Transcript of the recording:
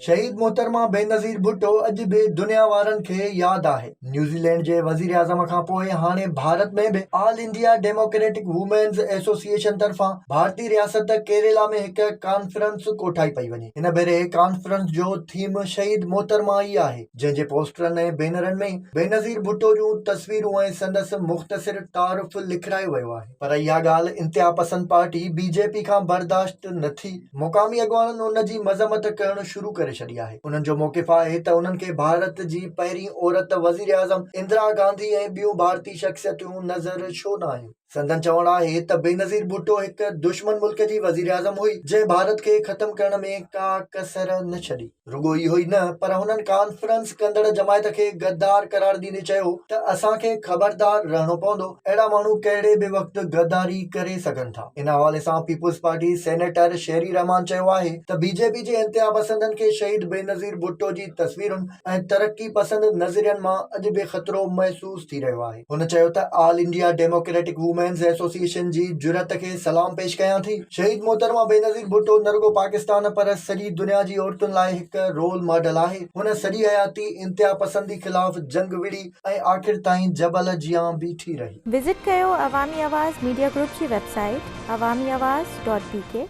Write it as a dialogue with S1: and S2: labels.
S1: شهيد محترمه بينظير ڀٽو اڄ به دنيا وارن کي ياد آهي نيوزيلينڊ جي وزيراعظم کان پوء هاڻي ڀارت ۾ به all India democratic women's association طرفان ڀارتي رياست ڪيريلا ۾ هڪ ڪانفرنس ڪوٺائي پئي وڃي هن ڀيري ڪانفرنس جو ٿيم شهيد محترمه ئي آهي جنهن جي پوسٽرن ۽ بينرن ۾ بينظير ڀٽو جون تصويرون ۽ سندس مختصر تعارف لکرايو ويو آهي پر اها ڳالهه انتها پسند پارٽي بي جي پي کان برداشت نه ٿي مقامي اڳواڻن ان جي مذمت ڪرڻ شروع ڪري ڇڏي آهي انهن جو موقف آهي ته انهن کي ڀارت جي پهرين عورت وزيراعظم اندرا گانڌي ۽ ٻيون ڀارتي شخصيتون نظر ڇو نه آيون. سندن چوڻ آهي ته بينظير ڀٽو هڪ دشمن ملڪ جي وزيراعظم هئي جنهن ڀارت کي ختم ڪرڻ ۾ ڪا ڪسر نه ڇڏي. رڳو اهو ئي نه پر هنن ڪانفرنس ڪندڙ جماعت کي غدار قرار ڏيندي چيو ته اسان کي خبردار رهڻو پوندو اهڙا ماڻهو ڪهڙي به وقت غداري ڪري سگهن ٿا. ان حوالي سان people's party senator Sherry Rehman چيو آهي ته بي جي پي جي انتهاپسندن کي شهيد بينظير ڀٽو جي تصويرن ۽ ترقي پسند نظرين مان اڄ به خطرو محسوس ٿي رهيو آهي. هن چيو ته all India democratic women's association جي جرئت کي سلام پيش ڪيان ٿي، شهيد محترمه بينظير ڀٽو نه رڳو پاڪستان پر سڄي دنيا جي عورتن لاء هڪ رول ماڊل آهي، هن سڄي حياتي انتهاپسندي خلاف جنگ وڙهي ۽ آخر تائين جبل جيان بيٺي رهي. وزٽ
S2: ڪيو عوامي
S1: آواز
S2: ميڊيا گروپ جي website Awami
S1: Awaz
S2: dot بي ڪي.